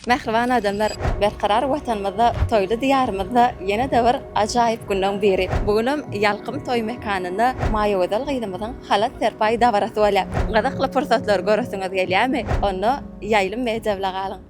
Mähriban adamlar, Berkarar Watanymyzda, toýly Diýarymyzda ýene-de bir ajaýyp günleň biri. Bu günem Ýalkym toý mekanynda Maýagözel gyzymyzyň halat serpaý dabarasy bolýar. Gyzykly pursatlary göresiňiz gelýärmi? Onda Ýaýlym media bile galyň!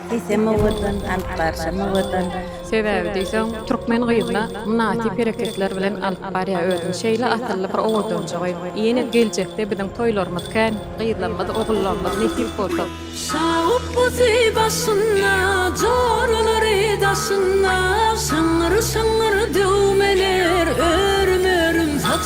Diýsem owadan, alyp barşam owadan. Sebäbi diýseň, türkmen gyzyna mynasyp hereketler bilen alyp barýa özüni şeýle asylly bir owadanjygy. Ýene geljekde biziň toýlarymyz kän, gyzlarymyz, ogullarymyz nesip bolsa. Şawut guzy başynda, joralary daşynda, şyňňyr-şyňňyr döwmeler, örüm-örüm saçynda.